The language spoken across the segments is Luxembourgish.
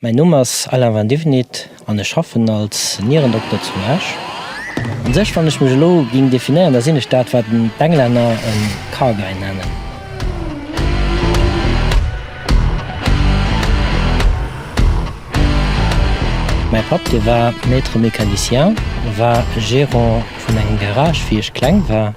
Mäin Numm ass Alain van Divenit an ech schaffen als Nierendokter zu Esch. An sech wann ech mech elo ging definéieren, da sinn ech dat wat d'Englänner en Car Guy nennen. Mäi Papp, dee war Maître mécanicien, war Gérant vun engem Garage wéi ech kleng war.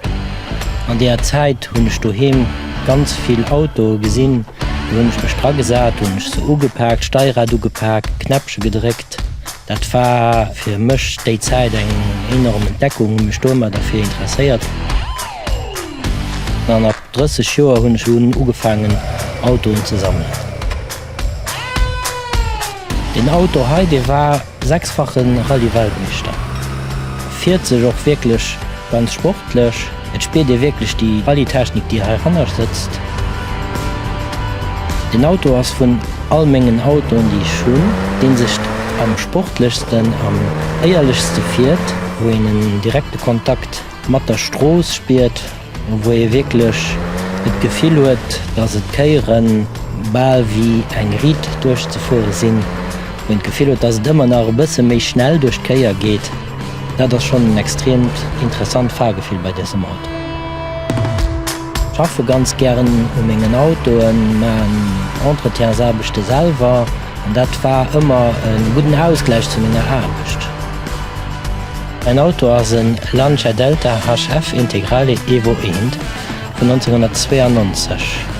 An deeër Zäit hunn ech doheem ganz vill Autoe gesinn. Do hunn ech mech dra gesat, hunn ech se ugepaakt, d'Steierad ugepaakt, d'Knäppche gedréckt. Dat war fir mech déi Zäit eng enorm Entdeckung, hunn mech domat derfir interesséiert. An ab 30 Joer hunn ech un ugefaangen Autoen ze sammelen. Deen Auto hei, dee war sechsfache Rallye-Weltmeeschter, fiert sech och wierklech ganz sportlech. Et spiert ee wierklech déi Rallye-Technik, déi hei hannescht sëtzt. Deen Auto ass vun all mengen Autoen, déi ech hunn, dee sech am sportlechsten, am éierlechste fiert, wou een en direkte Kontakt. Mat der Strooss spiert, wou ee wierklech et Gefill huet, dass et Kéiere bal wéi eng Riit duerchzefuere sinn, wou een d'Gefill huet, dass et ëmmer nach e bësse méi schnell duerch d'Kéier geet, dat ass schonn en extreemt interessant Fahrgefill bei dësem Auto. Ech schaffe ganz gären u mengen Autoen, maachen Entretiensaarbechte selwer an dat war ëmmer e gudden Ausgläich zu menger Aarbecht. En Auto ass en Lancia Delta HF Integrale Evo I vun 1992.